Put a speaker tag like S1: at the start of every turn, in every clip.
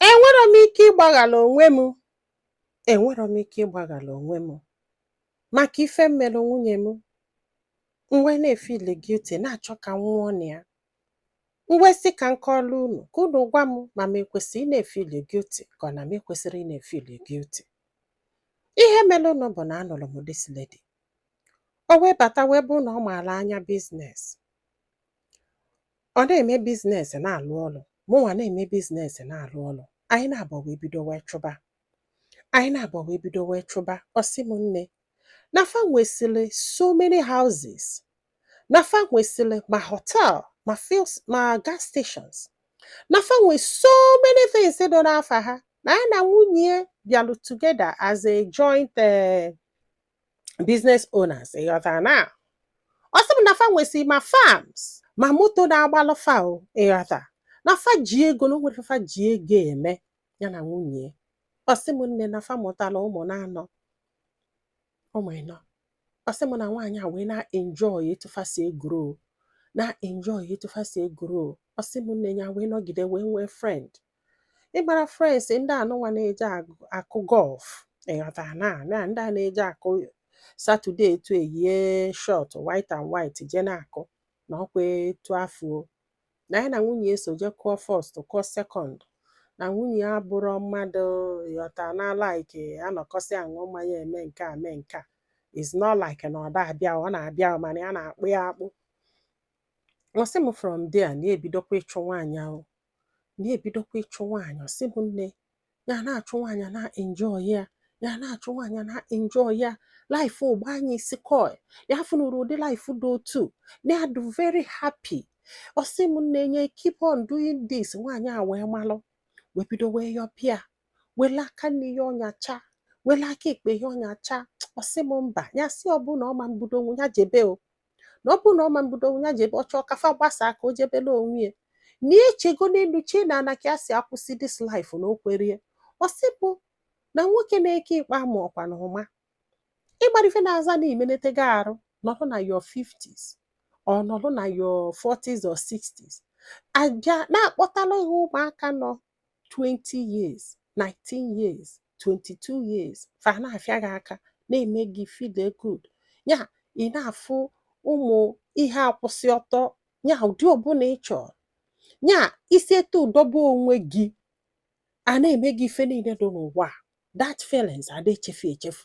S1: Enwero m ike ịgbaghala onwe m enwero m ike ịgbaghara onwe m maka ife m mere nwunye m m wee na-efili guilty na-achọ ka m nwụọ na ya m wee sị ka m kọọlụ unu ka unu gwa m ma m ekwesịrị ị na-efili guilty ka ọ na m ekwesịrị ị na-efili guilty ihe merenụ bụ na anụrụ m this lady o wee bata wee bụ na ọ maara anya business Ọ na-eme business na-alụ ọlụ, mụnwa na-eme business na-alụ ọlụ. Anyị naabọ wee bido wee chụba. Anyị naabọ wee bido wee chụba. Ọ sị m nne, na fa nwesịrị so many houses, na fa nwesịrị ma hotel, ma fuel, ma gas stations, na fa nwe so many things dị n'afa ha. Na ya na nwunye ya bịalụ together as a joint eh, business owners ị ghọtara na ọ sị m na fa nwesị ma farms ma moto na-agbalụ fa o ị ghọta na fa ji ego na o nwere ife fa ji ego eme ya na nwunye ọ sị m nne na fa mụtara ụmụ naanọ ụmụ ịnọ ọ sị m na nwaanyị a wee na-enjoy etu fa si e-grow na-enjoy etu fa si e-grow ọ sị m nne ya wee nọgide wee nwee friend ị mara friends ndị anụnwa na-eje agụ- akụ golf ị ghọta na na ndị a na-eje akụ Saturday etu eyie short white and white je na-akụ na ọkwa etu afụ o na ya na nwunye ya so je kụọ first kụọ second na nwunye ya abụrọ mmadụ ị ghọta na-like anọkọsị aṅụ mmanya eme nke a mee nke a is not like na ọ da abịa ọ na-abịa mana ya na-akpụ ya akpụ ọ sị m from there na-ebidokwa ịchụ nwaanyị ahụ na-ebidokwa ịchụ nwaanyị ọ sị m nne ya na-achụ nwaanyị na-enjoy ya ya na-achụ nwaanyị na-enjoy ya life ụgba anyị isi koi ya fụnụrụ ụdị life dị otu na-adị very happy ọ sị m nne ya e-keep on doing this nwaanyị a wee malụ wee bido wee yọpịa wele aka nni ya ọ nyacha wele aka ekpe ya ọ nyacha ọ sị m mba ya sị ọ bụ na ọ ma mbudo onwe ya jebe o na ọ bụrụ na ọ ma mbudo onwe ya jebe ọ chọọ ka fa gbasaa ka o jebele onwe ya na echego n'elu chee n'ana ka ya si akwụsị this life na o kwerọ ya ọ sị m na nwoke na-eke ikpe ama ọkwa na ụma ị mara ife na-aza na imenetego arụ nọrọ na your 50s or nọrọ na your 40s or 60s a bịa na-akpọtala gị ụmụaka nọ 20 years 19 years 22 years fa na-afịa gị aka na-eme gị feel good ya ị na-afụ ụmụ ihe a kwụsị ọtọ ya ụdị ọbụla ị chọrọ ya isi etu ị dọba onwe gị a na-eme gị ife niile dị n'ụwa that feelings a da echefu echefu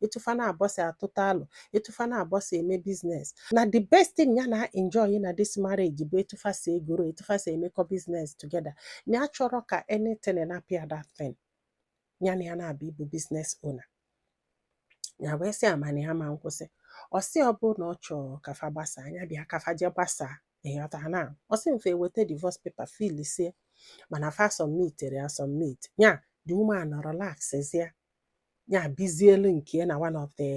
S1: etu fa naabọ si atụta alo etu fa naabọ si eme business na the best thing ya na enjoy na this marriage bụ etu fa si egrow etu fa si emekọ business together na ya achọrọ ka anything na-apịa that thing ya na ya na-abụ ịbụ business owner ya wee sị amana ya ma nkwụsị ọ sị ọ bụrụ na ọ chọrọ ka fa gbasaa nya bịa ka fa jee gbasaa ị ghọta na ọ sị m fa eweta divorce paper filisie mana fa submitere ya submit ya the woman relaxzie ya bizielu nke na one of the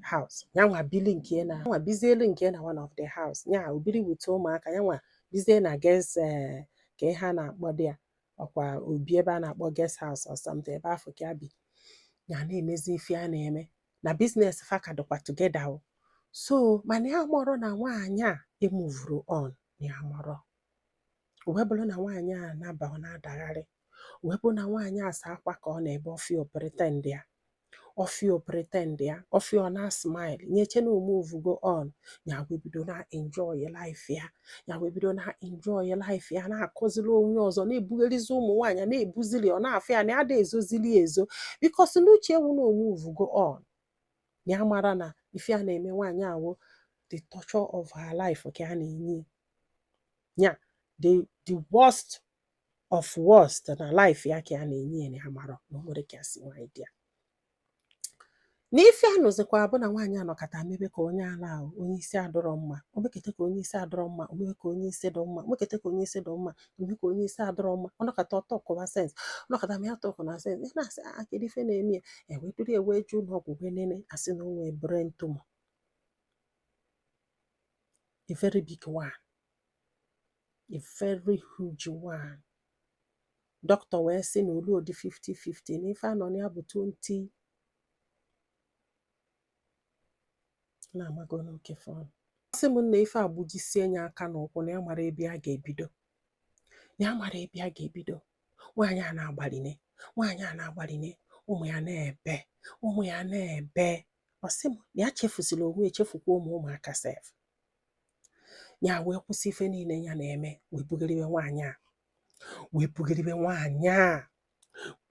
S1: house ya nwa bili nke na nwa bizielu nke na one of the house ya o biri bute ụmụaka ya nwa bizie na guest eh, ka ihe a na-akpọdị ya ọ kwa o bi ebe a na-akpọ guest house or something ebe afụ ka o bi ya na-emezi ife ya na-eme na business fa ka dịkwa together o so mana ya amarọ na nwaanyị a emuvurọ on ya amarọ O wee bụrụ na nwaanyị a na-aba ọ na-adagharị. O wee bụrụ na nwaanyị a sọ akwa ka ọ na-ebe ọ fụ ya o pretendia. Ọ fụ ya o pretendia. Ọ fụ ya ọ na-asmile. Ya eche na o muvugo on. Ya wee bido na-enjoy life ya. Ya wee bido na-enjoy life ya na-akọziri onye ọzọ na-ebugherizi ụmụ nwaanyị ya na-ebuzili ọ na-afụ ya na ya ada ezozili ya ezo because n'uche ya wụ na o muvugo on. Ya amarọ na ife ya na-eme nwaanyị a wụ the torture of her life ka ya na-enye ya. ya the the worst of worst na life ya ka ya na-enye ya na ya amarọ na o nwere ka ya si nwaanyị dị ya na ife a nụzikwa bụ na nwaanyị a nọkata mebe ka onye ala ahụ onye isi adịrọ mma o mekata ka onye isi adịrọ mma o mebe ka onye isi dị mma o mekata ka onye isi dị mma o mebe ka onye isi adịrọ mma ọ nọkata ọ talkụwa sense ọ nọkata ma ya talkụna sense ya na-asị a kedu ife na-eme ya e wee duru e wee jee ụlọ ọgwụ wee nene a sị na o nwere brain tumor a very big one a very huge one doctor wee sị na o lurọdị 50-50 na ife a nọ na ya bụ 20 na-amago nwoke afụ sị m na ife agbujisie nya aka na ụkwụ na ya amarọ ebe ya ga-ebido na ya amarọ ebe ya ga-ebido nwaanyị a na-agbaline nwaanyị a na-agbaline ụmụ ya na-ebe ụmụ ya na-ebe ọ sị m na ya chefuzili onwe ya chefukwa ụmụ ụmụaka sef ya wee kwụsị ife niile ya na-eme wee bugharịbe nwaanyị a wee bugharịbe nwaanyị a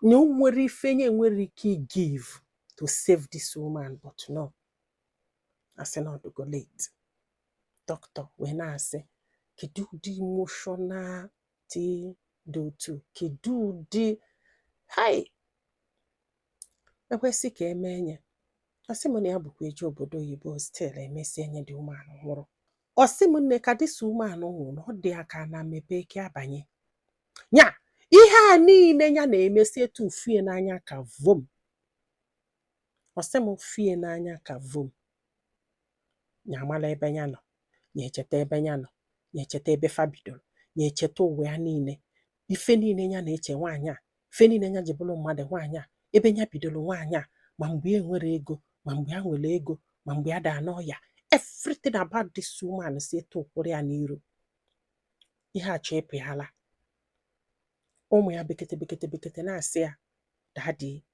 S1: na o nwerọ ife nya enwerọ ike igive to save this woman but no a sị na ọ dụgo late doctor wee na-asị kedu ụdị emotional dị dị otu kedu ụdị hai ekwesị ka eme enye ọ sị m na ya bụkwa eje obodo oyibo still emesi enye the woman nwụrụ ọ sị m nne ka this woman nwụrụ na ọ dị ya ka ana mepe ka ya banye nya ihe a niile ya na-eme si etu fie n'anya ka vom ọ sị m fie n'anya ka vom nya amala ebe ya nọ nya echeta ebe ya nọ nya echeta ebe fa bidoro nya echeta ụwa ya niile ife niile nya na-eche nwaanyị a fe niile nya ji bụrụ mmadụ nwaanyị a ebe nya bidoro nwaanyị a ma mgbe e nwere ego ma mgbe ya nwere ego ma mgbe ya daa n'ọya everything about this woman si etu a kwụrụ ya n'iru ihe a chọọ ịpụ ya ala ụmụ ya bekete bekete bekete na-asị ya daddy